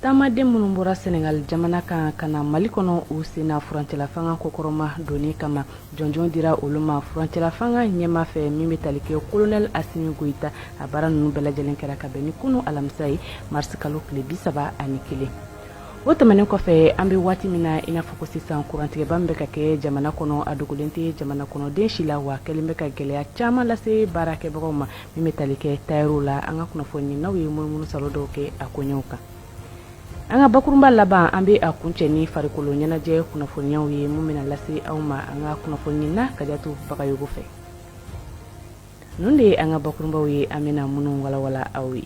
taamaden minnu bɔra sɛnɛgali jamana kan ka na mali kɔnɔ u senna furancɛlafanga kɔkɔrɔmadonni kama jɔnjɔn dira olu ma furancɛlafanga ɲɛma fɛ min bɛ tali kɛ kolonɛli asimi goyita a baara ninnu bɛɛ lajɛlen kɛra ka bɛn ni kunu alamisa ye marisi kalo tile bi saba ani kelen o tɛmɛnen kɔfɛ an bɛ waati min na i n'a fɔ ko sisan kurantigɛba min bɛ ka kɛ jamana kɔnɔ a dogolen tɛ jamana kɔnɔden si la w'a kɛlen bɛ ka gɛlɛya caman lase baarakɛbagaw ma min bɛ tali kɛ tayɛriw la an ka kunnafoninaw ye munumunu saalo dɔw kɛ a koɲɛw kan an ka bakurunba laban an bɛ a kuncɛ ni farikolo ɲɛnajɛ kunnafoniyaw ye min bɛna lase aw ma an ka kunnafonina kajatu bagayogo fɛ ninnu de ye an ka bakurunbaw ye an bɛna minnu walawala aw ye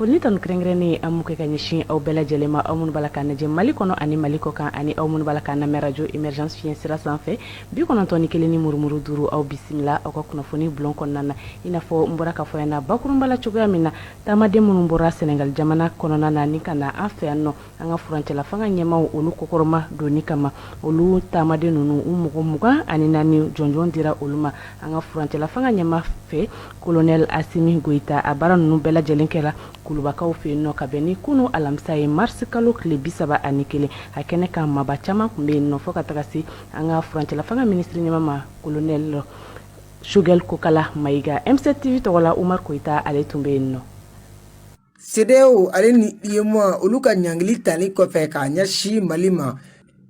Foli ni tanu kɛrɛnkɛrɛnnen an b'o kɛ ka ɲɛsin aw bɛɛ lajɛlen ma aw minnu b'a la k'an lajɛ Mali kɔnɔ ani Mali kɔkan ani aw minnu b'a la k'an lamɛn arajo Emergence fiɲɛ sira sanfɛ 91 ni murumuru duuru aw bisimila aw ka kunnafoni bulon kɔnɔna na i n'a fɔ n bɔra k'a fɔ aw ɲɛna bakurunba la cogoya min na taamaden minnu bɔra Senegal jamana kɔnɔna na ni ka na an fɛ yan nɔ an ka furancɛla fanga ɲɛmaw olu kɔkɔrɔmadonni kama olu taamaden ninnu u mɔgɔ mugan ani naani jɔnjɔn dira olu ma an ka furancɛla fanga ɲɛma fɛ kolonɛli asimi goyita a baara ninnu bɛɛ lajɛlen kɛra kulubakaw fɛ yen nɔ ka bɛn ni kunun alamisa ye marisi kalo tile bi saba ani kelen a kɛnɛ kan maaba caman tun bɛ yen nɔ fɔ ka taga se an ka furancɛla fanga minisiri ɲɛma ma kolonɛli sogɛli kokala mayiga m7 tv tɔgɔ la umar koyita ale tun bɛ yen nɔ cedeao ale ni uemoa olu ka ɲangili tali kɔfɛ k'a ɲɛsin mali ma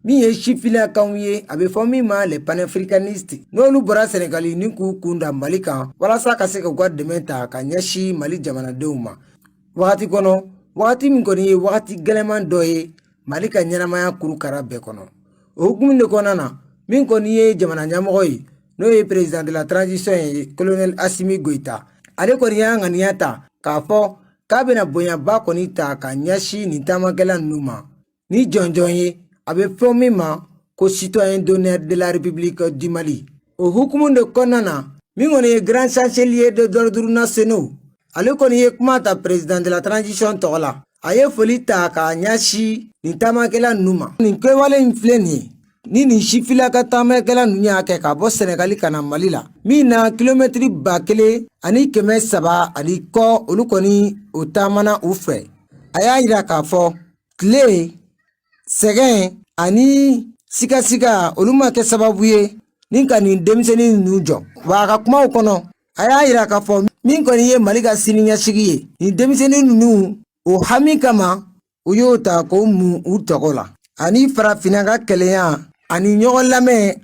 min ye sifilakanw ye a bɛ fɔ min ma les panafricanistes n'olu bɔra sɛnɛgali ni k'u kunda mali kan walasa ka se k'u ka dɛmɛ ta ka ɲɛsin mali jamanadenw ma wagati kɔnɔ wagati min kɔni ye wagati gɛlɛman dɔ ye mali ka ɲɛnamaya kurukara bɛɛ kɔnɔ o hukumu de kɔnɔna na min kɔni ye jamana ɲɛmɔgɔ ye n'o ye président de la transition ye colonel asimi goyita ale kɔni y'a ŋaniya ta k'a fɔ k'a bɛna bonyaba kɔni ta ka ɲɛsin nin taamakɛla ninnu ma ni jɔnjɔn ye a bɛ fɔ min ma ko citoyen d'honneur de la république du mali o hukumu de kɔnɔna na min kɔni ye grand chancelier de l'ordre nationaux ale kɔni ye kuma ta président de la transition tɔgɔ la a ye foli ta k'a ɲɛsin nin taamakɛla ninnu ma nin kɛwale in filɛ nin ye ni nin sifila ka taamakɛla ninnu y'a kɛ ka bɔ sɛnɛgali ka na mali la min na kilomɛtiri ba kelen ani kɛmɛ saba ani kɔ olu kɔni o taamana u fɛ a y'a yira k'a fɔ tile sɛgɛn ani sigasiga olu ma kɛ sababu ye ni ka nin denmisɛnnin ninnu jɔ wa a ka kumaw kɔnɔ a y'a yira k'a fɔ min kɔni ye mali ka siniɲɛsigi ye nin denmisɛnnin ninnu o hami kama u y'o ta k'o mun u tɔgɔ la ani farafinna ka kelenya ani ɲɔgɔn lamɛn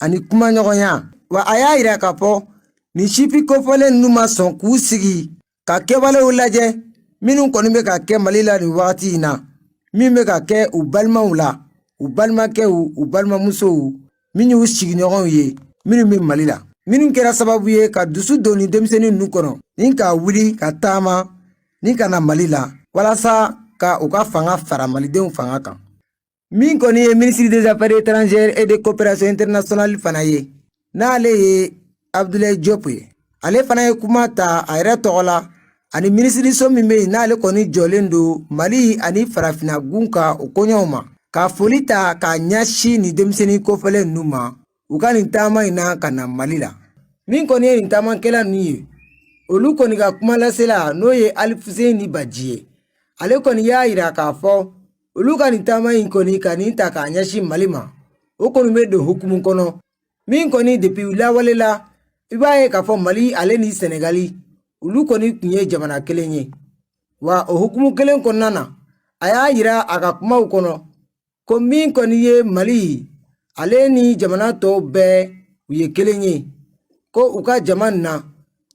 ani kumaɲɔgɔnya wa a y'a yira k'a fɔ nin sifin kofɔlen ninnu ma sɔn k'u sigi ka kɛwalew lajɛ minnu kɔni bɛ ka kɛ mali la nin wagati in na min bɛ ka kɛ u balimaw la u balimakɛw u balimamusow min y'u sigiɲɔgɔnw ye minnu bɛ mali la minnu kɛra sababu ye ka dusu don nin denmisɛnnin ninnu kɔnɔ ni ka wuli ka taama ni ka na mali la walasa ka u ka fanga fara malidenw fanga kan min kɔni ye ministre des affaires étrangères et de coopération internationale fana ye n'ale ye abdulayi jɔp ye ale fana ye kuma ta a yɛrɛ tɔgɔ la ani minisiriso min bɛ yen n'ale kɔni jɔlen don mali ani farafinna gun ka o koɲɛw ma ka foli ta k'a ɲɛsin nin denmisɛnnin kofɔlen ninnu ma u ka nin taama in na ka na mali la min kɔni ye nin taamakɛla ninnu ye olu kɔni ka kuma lasela n'o ye alifuseni baji ye ale kɔni y'a yira k'a fɔ olu ka nin taama in kɔni ka nin ta k'a ɲɛsin mali ma o kɔni bɛ don hukumu kɔnɔ min kɔni depi lawale la i b'a ye k'a fɔ mali ale ni sɛnɛgali olu kɔni tun ye jamana kelen ye wa o hukumu kelen kɔnɔna na a y'a yira a ka kumaw kɔnɔ ko min kɔni ye mali ale ni jamana tɔw bɛɛ u ye kelen ye ko u ka jama na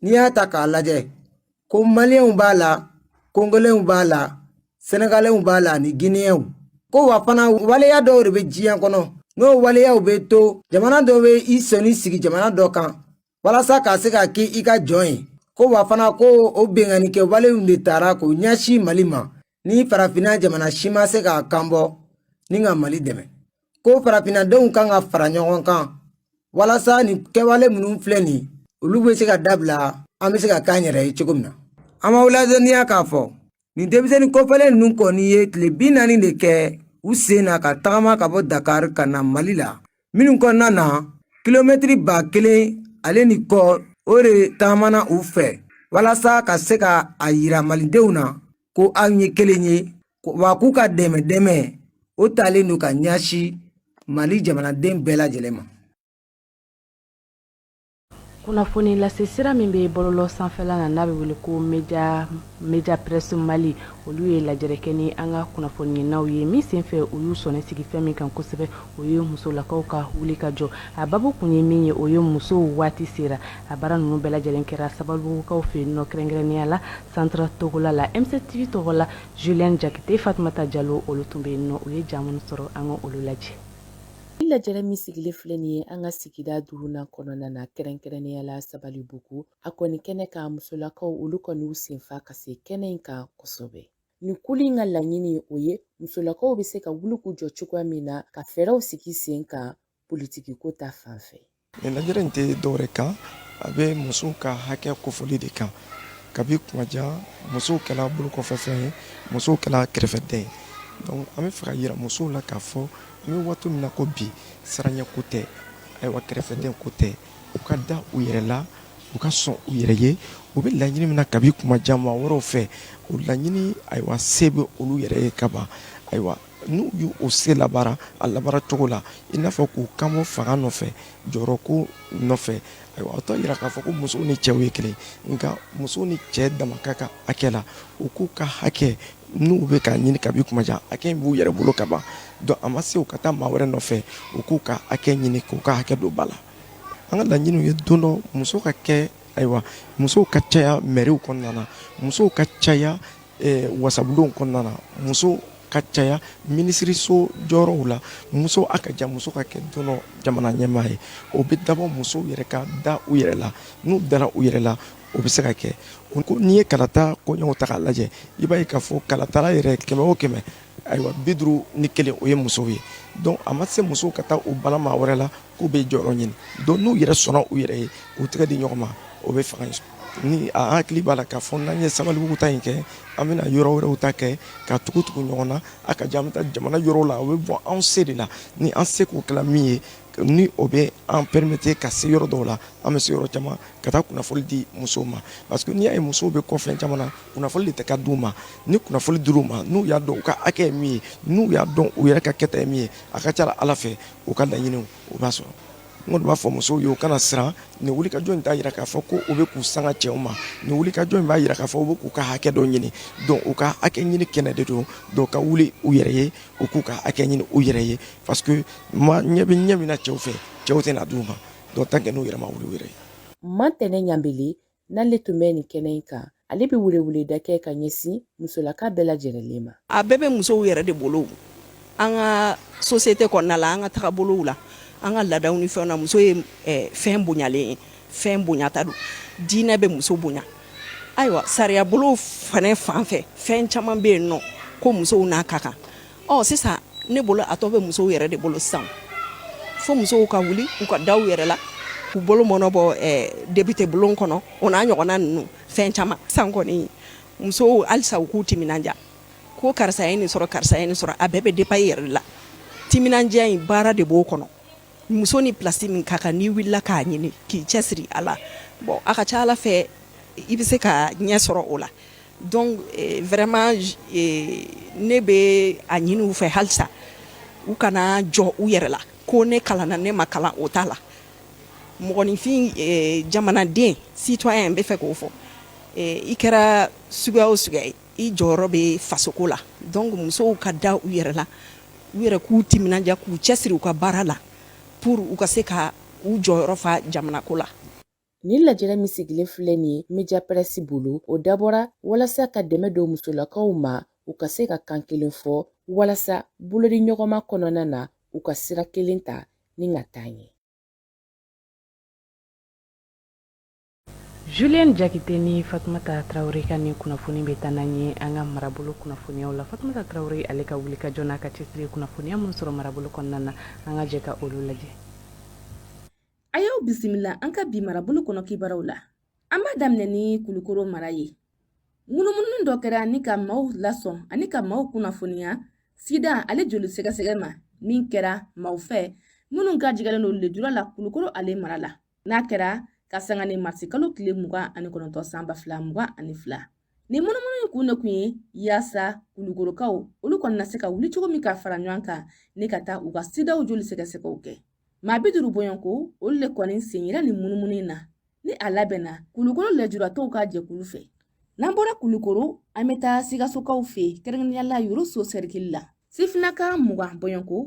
n'i y'a ta k'a lajɛ ko maliyɛnw b'a la kongolɛnw b'a la sɛnɛgalɛnw b'a la ani giniyɛnw ko wa fana waleya dɔw de bɛ diɲɛ kɔnɔ n'o waleyaw bɛ to jamana dɔ bɛ i sɔnni sigi jamana dɔ kan walasa ka se k'a kɛ i ka jɔn ye ko wa fana ko o binkannikɛ walew de tara k'o ɲɛsin mali ma ni farafinna jamana si ma se k'a kan bɔ ni ka mali dɛmɛ ko farafinnadenw kan ka fara ɲɔgɔn kan walasa nin kɛwale minnu filɛ nin olu bɛ se ka dabila an bɛ se ka k'an yɛrɛ ye cogo min na an b'aw ladɔnniya k'a fɔ nin denmisɛnnin kofɔlen ninnu kɔni ye tile bi naani de kɛ u sen na ka tagama ka bɔ dakari ka na mali la minnu kɔnɔna na kilomɛtiri ba kelen ale ni kɔ o de taamana u fɛ walasa ka se ka a yira malidenw na ko an ye kelen ye wa k'u ka dɛmɛ dɛmɛ o talen don ka ɲɛsin mali jamanaden bɛɛ lajɛlen ma kunnafoni lase sira min bɛ bɔlɔlɔ sanfɛla na n'a bɛ wele ko media presse mali olu ye lajɛrɛ kɛ ni an ka kunnafoniɲininaw ye min senfɛ u y'u sɔnni sigi fɛn min kan kosɛbɛ o ye musolakaw ka wuli ka jɔ a babu kun ye min ye o ye musow waati sera a baara ninnu bɛɛ lajɛlen kɛra sabalibugukaw fɛ yen nɔ kɛrɛnkɛrɛnnenya la centre togola la mctv tɔgɔ la julien jakite fatumata jalo olu tun bɛ yen nɔ u ye ja minnu sɔrɔ an ka olu lajɛ Ni lajɛrɛ min sigilen filɛ nin ye an ka sigida duurunan kɔnɔna na kɛrɛnkɛrɛnnenya la sabalibugu a kɔni kɛnɛ kan musolakaw olu kɔni u senfa ka se kɛnɛ in kan kosɛbɛ nin kuli in ka laɲini o ye musolakaw bɛ se ka wuli k'u jɔ cogoya min na ka fɛɛrɛw sigi sen kan politikiko ta fan fɛ Lajɛrɛ in tɛ dɔwɛrɛ kan a bɛ musow ka hakɛ kofɔli de kan kabi kuma jan musow kɛla bolokɔfɛfɛn ye musow kɛla kɛrɛfɛden ye donc an bɛ fɛ ka jira musow la k'a fɔ an bɛ waati min na ko bi siranya ko tɛ ayiwa kɛrɛfɛden ko tɛ u ka da u yɛrɛ la u ka sɔn u yɛrɛ ye u bɛ laɲini min na kabi kuma jan maa wɛrɛw fɛ o laɲini ayiwa se bɛ olu yɛrɛ ye kaban ayiwa n'u y'o se labaara a labaara cogo la i n'a fɔ k'u kan bɔ fanga nɔfɛ jɔyɔrɔ ko nɔfɛ ayiwa o t'a jira k'a fɔ ko musow ni cɛw ye kelen nka muso ni cɛ dama ka kan hakɛ la u k'u ka hakɛ n'u bɛ k'a ɲini kabi kuma jan hakɛ in b'u yɛrɛ bolo kaban donc a ma se u ka taa maa wɛrɛ nɔfɛ u k'u ka hakɛ ɲini k'u ka hakɛ don ba la an ka laɲiniw ye don dɔ muso ka kɛ ayiwa musow ka caya mɛriw kɔnɔna na musow ka caya eh, wasabulonw kɔnɔna na muso ka caya minisiriso jɔyɔrɔw la muso a ka jan muso ka kɛ don dɔ jamana ɲɛmaa ye o bɛ dabɔ musow yɛrɛ ka da u yɛrɛ la n'u dara u yɛrɛ la o bɛ se ka kɛ n'i ye kalata koɲɛw ta k'a lajɛ i b'a ye k'a fɔ kalatala yɛrɛ kɛmɛ o kɛmɛ ayiwa bi duuru ni kelen o ye musow ye donc a ma se musow ka taa u bala maa wɛrɛ la K'u bɛ jɔyɔrɔ ɲini donc n'u yɛrɛ sɔnna u yɛrɛ ye u tɛgɛ di ɲɔgɔn ma o bɛ fanga sɔrɔ ne hakili b'a la k'a fɔ n'an ye sabalibugu ta in kɛ an bɛna yɔrɔ wɛrɛw ta kɛ ka tugu tugu ɲɔgɔn na a ka jan an bɛ taa jamana yɔrɔw la o bɛ bɔ anw se de la ni an seko kɛla min ye ni o bɛ an permettre ka se yɔrɔ dɔw la an bɛ se yɔrɔ caman ka taa kunnafoni di musow ma parce que n'i y'a ye musow bɛ kɔfɛ caman na kunnafoni de tɛ ka d' u ma ni kunnafoni dir'u ma n'u y'a dɔn u ka hakɛ ye min ye n'u y'a dɔn u yɛrɛ ka kɛta ye min ye a ka ca ala fɛ u ka laɲiniw u b'a sɔrɔ n b'a fɔ musow ye u kana siran nin wulikajɔ in t'a jira k'a fɔ ko u bɛ k'u sanga cɛw ma nin wulikajɔ in b'a jira k'a fɔ u bɛ k'u ka hakɛ dɔ ɲini donc u ka hakɛ ɲini kɛnɛ de don donc u ka wuli u yɛrɛ ye u k'u ka hakɛ ɲini u yɛrɛ ye parce que ma ɲɛ bɛ ɲɛ min na cɛw fɛ cɛw tɛna d'u ma donc tant que n'u yɛrɛ ma wuli u yɛrɛ ye mantɛnɛ ɲamb n'ale tun bɛ nin kɛnɛ in kan ale bɛ weleweleda kɛ ka ɲɛsin musolaka bɛɛ lajɛrɛlen ma a bɛɛ bɛ musow yɛrɛ de bolo an ka société kɔnɔna la an ka tagabolow la an ka laadaw ni fɛnw na muso ye eh, fɛn bonyalen ye fɛn bonyata don diinɛ bɛ muso bonya ayiwa sariyabolo fana fan fɛ fɛn caman bɛ yen n'o ko musow n'a ka kan Ɔ sisan ne bolo a tɔ bɛ musow yɛrɛ de bolo sisan fo musow ka wuli u ka da u yɛrɛ la u bolo mɔɔnɔbɔ depite bulon kɔnɔ o n'a ɲɔgɔnna ninnu fɛn caman sisan kɔni musow halisa u k'u timinandiya ko karisa ye nin sɔrɔ karisa ye nin sɔrɔ a bɛɛ bɛ dépend i yɛrɛ de la timinandiya in baara de b'o kɔnɔ muso ni plasi min ka kan n'i wulila k'a ɲini k'i cɛsiri a la bon a ka ca ala fɛ i bɛ se ka ɲɛ sɔrɔ o la donc vraiment ne bɛ a ɲini u fɛ halisa u kana jɔ u yɛrɛ la ko ne kalanna ne ma kalan o t'a la mɔgɔninfin jamanaden citoyen n bɛ fɛ k'o fɔ i kɛra suguya o suguya ye i jɔyɔrɔ bɛ fasoko la donc musow ka da u yɛrɛ la u yɛrɛ k'u timinandiya k'u cɛsiri u ka baara la pour u ka se ka u jɔyɔrɔ fa jamanako la Nin lajɛrɛ min sigilen filɛ nin ye media pɛrɛsi bolo o dabɔra walasa ka dɛmɛ don musolakaw ma u ka se ka kan kelen fɔ walasa bolodiɲɔgɔnma kɔnɔna na u ka sira kelen ta ni ka taa ɲɛ Julien Jakite ni Fatumata Tarawele ka ni kunnafoni bɛ taa n'an ye an ka marabolo kunnafoniyaw la Fatumata Tarawele ale ka wulikajɔ n'a ka cɛsiri kunnafoniya minnu sɔrɔ marabolo kɔnɔna na an ka jɛ ka olu lajɛ. A y'aw bisimila an ka bi marabolo kɔnɔ kibaruyaw la an b'a daminɛ ni kulukoro mara ye munumunu dɔ kɛra ni ka maaw lasɔn ani ka maaw kunnafoniya sida ale joli sɛgɛsɛgɛ ma min kɛra maaw fɛ minnu gajigɛlen don lejura la kulukoro ale mara la n'a kɛra ka sanga ni marisi kalo tile mugan ani kɔnɔntɔn san ba fila mugan ani fila nin munumunu in kun de kun ye yaasa kulukorokaw olu kɔni na se ka wuli cogo min ka fara ɲɔgɔn kan ni ka taa u ka sidaw joli sɛgɛsɛgɛw kɛ maa bi duru bɔɲɔnko olu le kɔni sen yera nin munumunu in na ni a labɛnna kulukoro lɛjuratɔw ka jɛkulu fɛ n'an bɔra kulukoro an bɛ taa sikasokaw fɛ kɛrɛnkɛrɛnnenya la yoroso sɛrikili la sifinaka mugan bɔɲɔnko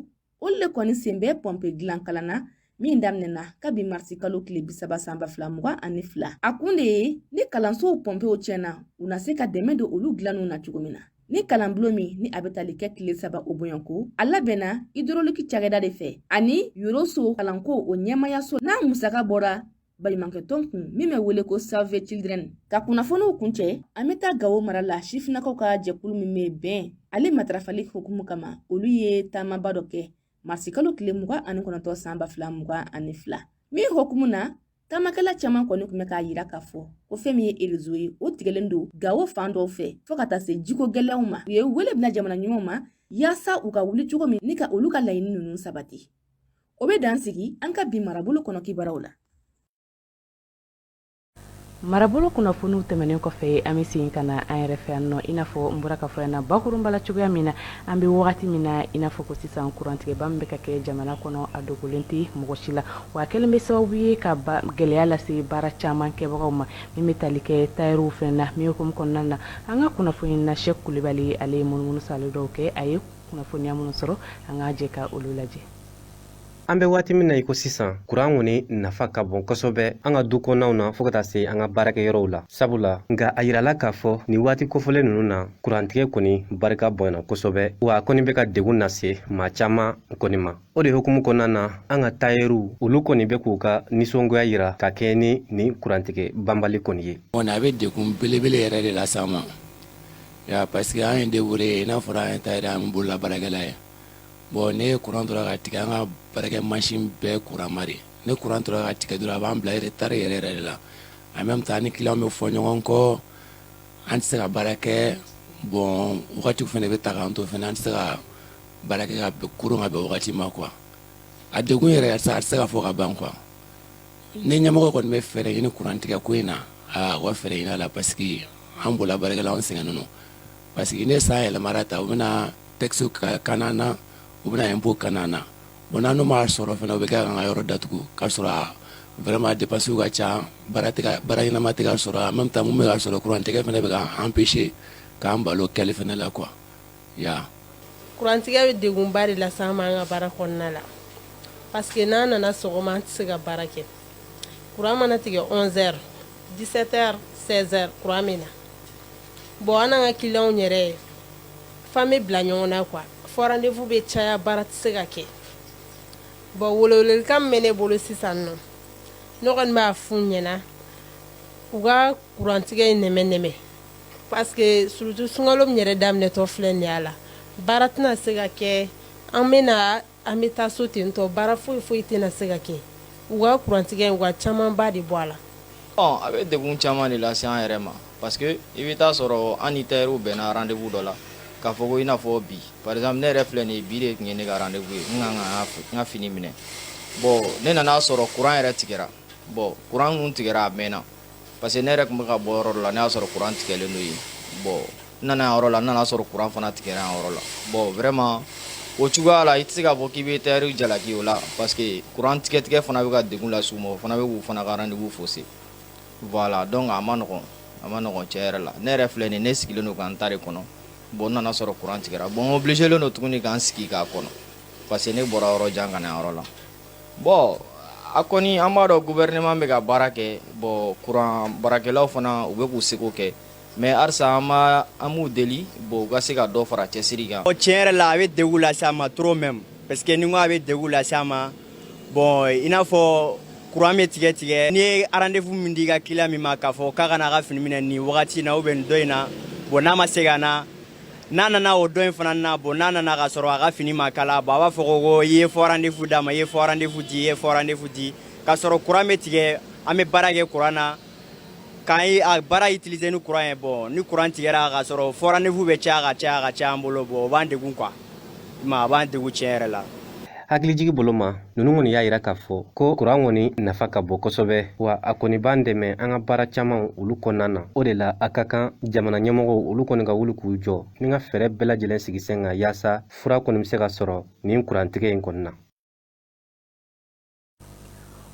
olu le kɔni sen bɛ pɔnpe dilan kalan na min daminɛna kabi marisi kalo tile bisaba san ba fila mugan ani fila a kun de ye ni kalansow pɔnpew tiɲɛna u na se ka dɛmɛ don olu dilanniw na cogo min na ni kalanbulon min ni a bɛ tali kɛ tile saba o bɔɲɔnko a labɛnna idoroliki cakɛda de fɛ ani yoroso kalanko o ɲɛmayaso n'a musaka bɔra baɲumankɛ tɔn kun min bɛ wele ko save children ka kunnafoniw kuncɛ an bɛ taa gawo mara la sifinakaw ka jɛkulu min bɛ bɛn ale matarafali hukumu kama olu ye taamaba dɔ kɛ marisikalo tile mugan ani kɔnɔntɔn san ba fila mugan ani fila min hukumu na taamakɛla caman kɔni kun bɛ k'a yira k'a fɔ ko fɛn min ye erezo ye o tigɛlen don gawo fan dɔw fɛ fɔɔ ka taa se jiko gɛlɛyaw ma u ye wele bila jamana ɲɛmaaw ma yaasa u ka wuli cogo min ni ka olu ka laɲini ninnu sabati o bɛ dan sigi an ka bi marabolo kɔnɔ kibaruw la marabolo kunnafoniw tɛmɛnen kɔfɛ an bɛ segin ka na an yɛrɛ fɛ yan nɔ i n'a fɔ n bɔra k'a fɔ yan na bakurunba la cogoya min na an bɛ wagati min na i n'a fɔ ko sisan kurantigɛba min bɛ ka kɛ jamana kɔnɔ a dogolen tɛ mɔgɔ si la wa a kɛlen bɛ sababu ye ka gɛlɛya lase baara caman kɛbagaw ma min bɛ tali kɛ tayɛriw fan na min hukumu kɔnɔna na an ka kunnafoni na sɛki kulibali ale ye munumunu saalo dɔw kɛ a ye kunnafoniya minnu sɔrɔ an ka jɛ ka olu lajɛ an bɛ waati min na i ko sisan kuran kɔni nafa ka bon kosɛbɛ an ka du kɔnɔnaw na fo ka taa se an ka baarakɛyɔrɔw la sabula nka a yirala k'a fɔ nin waati kofɔlen ninnu na kurantigɛ kɔni barika bonyana kosɛbɛ wa a kɔni bɛ ka degun nase maa caman kɔni ma o de hukumu kɔnɔna na an ka tayɛriw olu kɔni bɛ k'u ka nisɔngoya yira ka kɛɲɛ ni nin kurantigɛ banbali kɔni ye a bɛ degun belebele yɛrɛ de lase an ma Ya parce que an ye débrouillé n'a fɔra an ye tayɛri an bolola baarakɛla ye bon ni kuran tora ka tigɛ an ka baarakɛ masin bɛɛ kuranma de ni kuran tora ka tigɛ dɔrɔn a b'an bila retard yɛrɛ yɛrɛ de la en même temps ni client bɛ fɔ ɲɔgɔn kɔ an tɛ se ka baara kɛ bon wagati fana bɛ taa k'an to fana an tɛ se ka baara kɛ ka kuru ka bɛn wagati ma quoi a degun yɛrɛ a tɛ se ka fɔ ka ban quoi ni ɲɛmɔgɔ kɔni bɛ fɛɛrɛ ɲini kurantigɛ ko in na u ka fɛɛrɛ ɲini a la parce que an bolola baarakɛla an sɛgɛnnen don parce que ni san yɛlɛmara tan u bɛna taxe kani an na u bɛna impôt kani an na bon n'an m'a sɔrɔ fana u bɛ kɛ k'an ka yɔrɔ datugu k'a sɔrɔ vraiment dépenses ka ca baara ɲɛnama tɛ ka sɔrɔ en même temps minnu bɛ ka sɔrɔ kurantigɛ fana bɛ k'an empêcher k'an bal'o kɛli fana la quoi kurantigɛ bɛ degunba de lase an ma an ka baara kɔnɔna la parce que n'an nana sɔgɔma an tɛ se ka baara kɛ kuran mana tigɛ onze heures dix-sept heures seize heures kuran bɛ na bon an n'an ka client yɛrɛ fana bɛ bila ɲɔgɔn na quoi faux rendez-vous bɛ caya baara tɛ se ka kɛ bon welewelekan min bɛ ne bolo sisan nɔ ne kɔni b'a f'u ɲɛna u ka kurantigɛ in nɛmɛ nɛmɛ Parce que surtout sunkalo min yɛrɛ daminɛtɔ filɛ nin ye a la baara tɛna se ka kɛ an bɛ an bɛ taa so ten tɔ baara foyi foyi tɛna se ka kɛ u ka kurantigɛ u ka camanba de bɔ a la a bɛ degun caman de lase an yɛrɛ ma parce que i bɛ t'a sɔrɔ an ni tayɛriw bɛnna rendez-vous dɔ la k'a fɔ ko i n'a fɔ bi par exemple ne yɛrɛ filɛ nin ye bi de tun ye ne ka rendez-vous ye n n ka fini minɛ bon ne nan'a sɔrɔ kuran yɛrɛ tigɛra bon kuran tigɛra a mɛnna Parce que ne yɛrɛ tun bɛ ka bɔ yɔrɔ dɔ la ne y'a sɔrɔ kuran tigɛlen don yen bon n nana yɔrɔ la n nana sɔrɔ kuran fana tigɛra yan yɔrɔ la bon vraiment o cogoya la i tɛ se k'a fɔ k'i bɛ tayɛriw jalaki o la parce que kuran tigɛtigɛ fana bɛ ka degun lase u ma o fana bɛ k'u fana ka rendez-vous fausser voilà donc a ma nɔgɔn a ma nɔgɔn tiɲɛ yɛrɛ la ne yɛrɛ filɛ nin ne sigilen don ka n ta de kɔnɔ bon n nana sɔrɔ kuran tigɛra bon obligé len don tuguni k'an sigi k'a kɔnɔ parce que ne bɔra yɔrɔ jan ka na yɔrɔ la Bon a kɔni an b'a dɔn gouvernement bɛ ka baara kɛ bon kuran baarakɛlaw fana u bɛ k'u seko kɛ mais halisa an b'u deli bon u ka se ka dɔ fara cɛsiri kan tiɲɛ yɛrɛ la a bɛ degun lase an ma trop même parce que ni n ko a bɛ degun lase an ma bon i n'a fɔ kuran bɛ tigɛ tigɛ n'i ye rendez-vous min di i ka client ma k'a fɔ k'a ka na a ka fini minɛ nin wagati in na ou bien nin don in na bon n'a ma se ka na n'a nana o don in fana na bon n'a nana ka sɔrɔ a ka fini ma kala bon a b'a fɔ ko ko i ye faux rendez-vous d'a ma i ye faux rendez-vous di i ye faux rendez-vous di ka sɔrɔ courant bɛ tigɛ an bɛ baara kɛ courant na k'an ye a baara utiliser ni courant ye bon ni courant tigɛra ka sɔrɔ faux rendez-vous bɛ caya ka caya ka caya an bolo bon o b'an degun quoi ma a b'an degun tiɲɛ yɛrɛ la hakilijigi bolo ma ninnu kɔni y'a yira k'a fɔ ko kuran kɔni nafa ka bon kosɛbɛ wa a kɔni b'an dɛmɛ an ka baara caman olu kɔnɔna na o de la a ka kan jamana ɲɛmɔgɔw olu kɔni ka wuli k'u jɔ ni ka fɛɛrɛ bɛɛ lajɛlen sigi sen kan yaasa fura kɔni bɛ se ka sɔrɔ nin kurantigɛ in kɔni na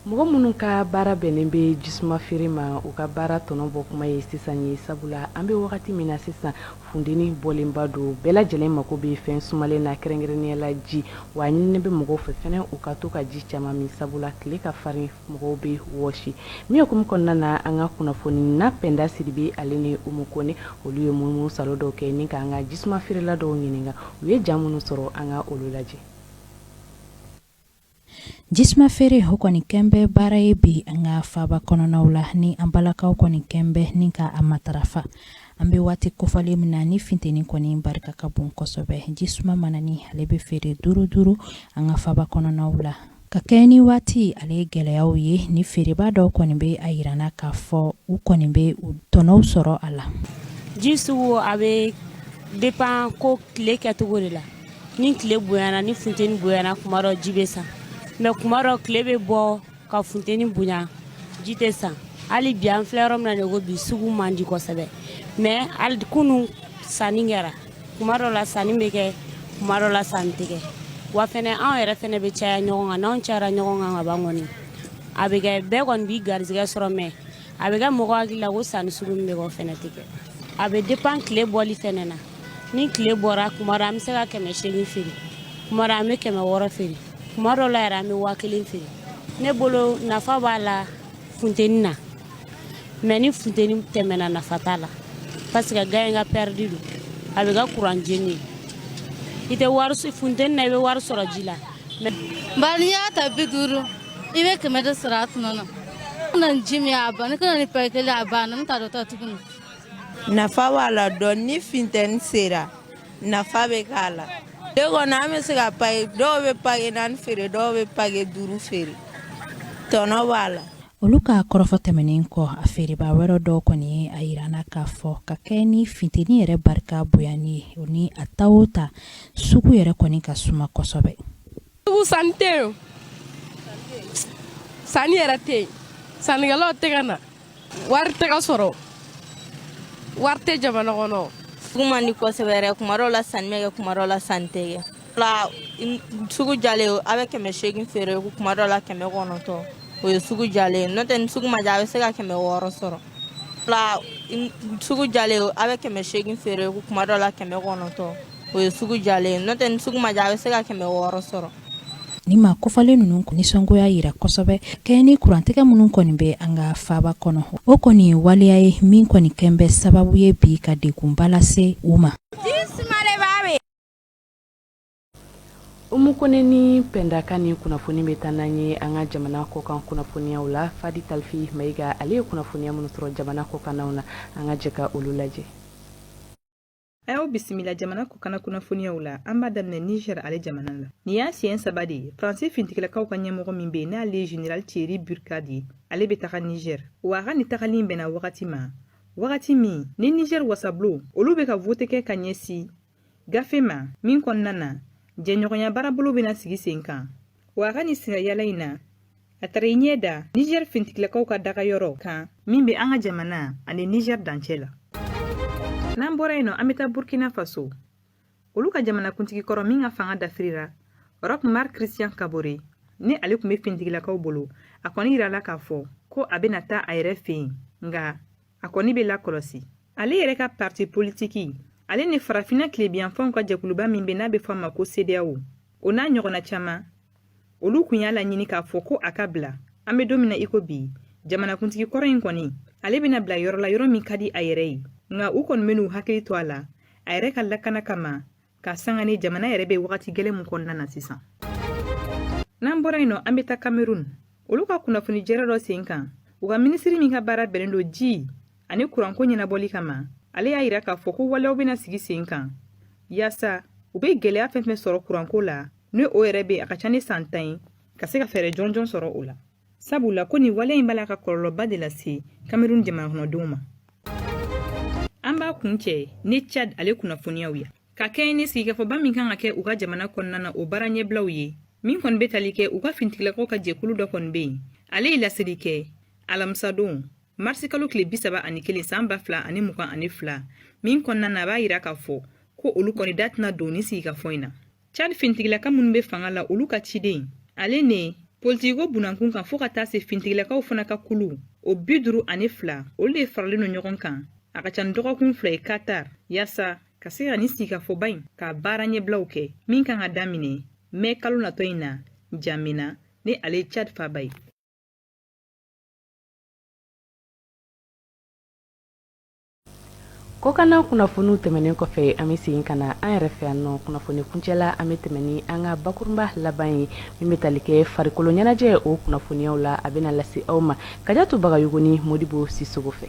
mɔgɔ minnu ka baara bɛnnen bɛ jisuma feere ma u ka baara tɔnɔ bɔ kuma ye sisan ye sabula an bɛ wagati min na sisan funteni bɔlenba don bɛɛ lajɛlen mako bɛ fɛn sumalen na kɛrɛnkɛrɛnnenya la ji wa a ɲinini bɛ mɔgɔw fɛ fɛnɛ u ka to ka ji caman min sabula tile ka farin mɔgɔw bɛ wɔsi min hukumu kɔnɔna na an ka kunnafonina pɛnda sidibe ale ni umu kone olu ye munumunu saalo dɔw kɛ ni k'an ka jisuma feerela dɔw ɲininka u ye ja minnu sɔrɔ an ka olu lajɛ Jisuma feere o kɔni kɛn bɛ baara ye bi an ka faaba kɔnɔnaw la ni an balakaw kɔni kɛn bɛ ni ka a matarafa an bɛ waati kofɔlen min na ni finteni kɔni barika ka bon kosɛbɛ jisuma mananin ale bɛ feere duuru duuru an ka faaba kɔnɔnaw la ka kɛɲɛ ni waati ale ye gɛlɛyaw ye ni feerebaa dɔw kɔni bɛ a yira na k'a fɔ u kɔni bɛ u tɔnɔw sɔrɔ a la ji sugu a bɛ dépend ko tile kɛcogo de la ni tile bonyana ni funteni bonyana kuma dɔ ji bɛ san mais kuma dɔ tile bɛ bɔ ka funteni bonya ji tɛ san hali bi an filɛ yɔrɔ min na de ko bi sugu man di kosɛbɛ mais hali kunu sanni kɛra kuma dɔ la sanni bɛ kɛ kuma dɔ la sanni tɛ kɛ wa fɛnɛ anw yɛrɛ fɛnɛ bɛ caya ɲɔgɔn kan n'anw cayara ɲɔgɔn kan ka ban kɔni a bɛ kɛ bɛɛ kɔni b'i garizigɛ sɔrɔ mais a bɛ kɛ mɔgɔ hakili la ko sanni sugu min bɛ kɛ o fɛnɛ tɛ kɛ a bɛ dépend tile bɔli fɛnɛ na ni tile bɔra kuma dɔ an bɛ se ka kɛmɛ segin feere kuma dɔ an bɛ kɛmɛ wɔɔrɔ feere kuma dɔ la yɛrɛ an bɛ waa kelen feere ne bolo nafa b'a la funteni na mais ni funteni tɛmɛna nafa t'a la parce que ga in ka pɛridi don a bɛ ka kuran jeni i tɛ wari funteni na i bɛ wari sɔrɔ ji la bari n'i y'a ta bi duuru i bɛ kɛmɛ de sɔrɔ a tɔnɔ na na ji min a ban ne kana ni pake kelen a banna n tɛ dɔ ta tuguni nafa b'a la dɔn ni funteni sera nafa bɛ k'a la tile kɔnɔ an bɛ se ka pake dɔw bɛ pake naani feere dɔw bɛ pake duuru feere tɔnɔ b'a la olu ka kɔrɔfɔ tɛmɛnen kɔ a feereba wɛrɛ dɔw kɔni ye a yirana k'a fɔ ka kɛ ni finteni yɛrɛ barika bonyani ye o ni a ta o ta sugu yɛrɛ kɔni ka suma kosɛbɛ Sugu sanni tɛ yen sanni yɛrɛ tɛ yen sannikɛlaw tɛ ka na wari tɛ ka sɔrɔ wari tɛ jamana kɔnɔ sugu man di kosɛbɛ yɛrɛ kuma dɔw la sanni bɛ kɛ kuma dɔw la sanni tɛ kɛ la sugu diyalen a bɛ kɛmɛ seegin feere kuma dɔw la kɛmɛ kɔnɔntɔn o ye sugu diyalen n'o tɛ ni sugu ma diya a bɛ se ka kɛmɛ wɔɔrɔ sɔrɔ la sugu diyalen a bɛ kɛmɛ seegin feere kuma dɔw la kɛmɛ kɔnɔntɔn o ye sugu diyalen n'o tɛ ni sugu ma diya a bɛ se ka kɛmɛ wɔɔrɔ sɔrɔ ni maa kofɔlen ninnu nisɔngoya yira kosɛbɛ kɛɲɛ ni kurantigɛ minnu kɔni bɛ an ka faaba kɔnɔ o kɔni ye waleya ye min kɔni kɛ bɛ sababu ye bi ka degunba lase u ma umu kone ni pɛnda ka nin kunnafoni bɛ taa n'an ye an ka jamana kɔkan kunnafoniyaw la fadi talifi mayiga ale ye kunnafoniya minnu sɔrɔ jamana kɔkannaw na an ka jɛ ka olu lajɛ An y'aw bisimila jamana kɔkanna kunnafoniyaw la an b'a daminɛ niger ale jamana la nin y'a siɲɛ saba de ye faransi fintigilakaw ka ɲɛmɔgɔ min bɛ yen n'ale ye general thierry burkhard ye ale bɛ taga niger wa a ka nin tagali in bɛnna wagati ma wagati min ni niger wasabulon olu bɛ ka vote kɛ ka ɲɛsin gafe ma min kɔnɔna na jɛɲɔgɔnya baarabolo bɛna sigi sen kan wa a ka nin sirayala in na a taara i ɲɛ da niger fintigilakaw ka dagayɔrɔ kan min be an ka jamana ani niger dancɛ la n'an bɔra yen nɔ an be taa burkina faso olu ka jamanakuntigi kɔrɔ min ka fanga dafirira roch marc christian kabore ni ale tun be fintigilakaw bolo a kɔni yirala k'a fɔ ko a bena taa a yɛrɛ fɛ yen nga a kɔni be lakɔlɔsi ale yɛrɛ ka parti politiki ale ni farafina tilebiyanfanw ka jɛkuluba min be n'a be fɔ a ma ko cedeao o n'a ɲɔgɔnna caaman olu kun y'a laɲini k'a fɔ ko a ka bila an be don min na i ko bi jamanakuntigi kɔrɔ in kɔni ale bena bila yɔrɔ la yɔrɔ min ka di a yɛrɛ ye nka u kɔni ben'u hakili to a la a yɛrɛ ka lakana kama ka sanga ni jamana yɛrɛ be wagati gwɛlɛ min kɔnɔna na sisan n'an bɔra yen nɔ an be taa kamerun olu ka kunnafoni jɛrɛ dɔ sen kan u ka minisiri min ka baara bɛnnen don ji ani kuranko ɲɛnabɔli kama ale y'a yira k'a fɔ ko waleyaw bɛna sigi sen kan yaasa u bɛ gɛlɛya fɛn fɛn sɔrɔ kuranko la ni o yɛrɛ bɛ a ka ca ni san tan ye ka se ka fɛɛrɛ jɔnjɔn sɔrɔ o la sabula ko nin waleya in b'a la ka kɔlɔlɔba de lase kamerun jamanakɔnɔdenw ma an b'a kuncɛ ni chad ale kunnafoniyaw ye ka kɛɲɛ ni sigikafɔba min kan ka kɛ u ka jamana kɔnɔna na o baara ɲɛbilaw ye min kɔni bɛ tali kɛ u ka fintigilakaw ka jɛkulu dɔ kɔni bɛ yen ale ye laseli kɛ alamisadon marisikalo tile bisaba ani kelen san ba fila ani mugan ani fila min kɔnɔna na a b'a yira k'a fɔ ko olu kɔni da tɛna don nin sigikafɔ in na cad fintigilaka minnu be fanga la olu ka ciden ale ni politikiko bunankun kan fɔɔ ka taa se fintigilakaw fana ka kulu o bi duru ani fila olu de faralen no ɲɔgɔn kan a ka ca ni dɔgɔkun fila ye katar yaasa ka se ka nin sigikafɔba in ka baara ɲɛbilaw kɛ min kan ka daminɛ mɛkalo natɔ in na jamena ni ale ye cad faaba ye kɔkanna kunnafoniw tɛmɛnen kɔfɛ an bɛ segin ka na an yɛrɛ fɛ yan nɔ kunnafoni kuncɛla an bɛ tɛmɛn ni an ka bakurunba laban ye min bɛ tali kɛ farikoloɲɛnajɛ o kunnafoniyaw la a bɛna lase aw ma kajatu bagayogo ni modibo sisogo fɛ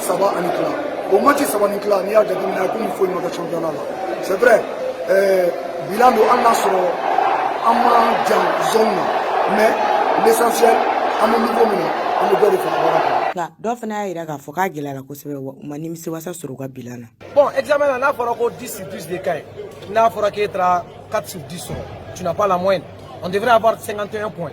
saba ani tila o match saba ni tila n'i y'a jateminɛ komi foyi ma kɛ championnat la c'est vrai euh, bilan don hali n'a sɔrɔ an man jan zone na mais l'essentiel an bɛ niveau min na an bɛ dɔ de fara baara kan nka dɔw fana y'a jira k'a fɔ k'a gɛlɛyara kosɛbɛ wa u ma nimisiwasa sɔrɔ u ka bilan na bon examen na n'a fɔra ko 10 sur 10 de ka ɲi n'a fɔra k'e taara 4 sur 10 sɔrɔ tu n'as pas la moyenne on devrait avoir 51 points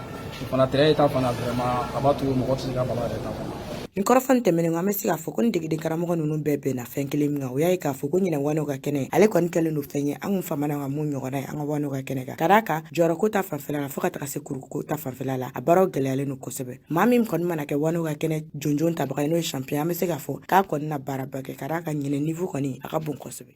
O fana tɛ e ta fana a b'a to mɔgɔ tɛ se ka bala yɛrɛ ta fana nin kɔrɔfɔ nin tɛmɛnen kɔ an bɛ se k'a fɔ ko nin degeden karamɔgɔ ninnu bɛɛ bɛnna fɛn kelen min kan o y'a ye k'a fɔ ko ɲinɛ waanew ka kɛnɛ ale kɔni kɛlen don fɛn ye an kun famana ka min ɲɔgɔnna ye an ka waanew ka kɛnɛ kan ka d'a kan jɔyɔrɔko ta fanfɛla la fɔɔ ka taga se kuruko ta fanfɛla la a baaraw gɛlɛyalen don kosɛbɛ maa min kɔni mana kɛ waanew ka kɛnɛ jonjon tabaga ye n'o ye champion an bɛ se k'a fɔ k'a kɔni na baaraba kɛ ka d'a kan ɲinɛ niveau kɔni a ka bon kosɛbɛ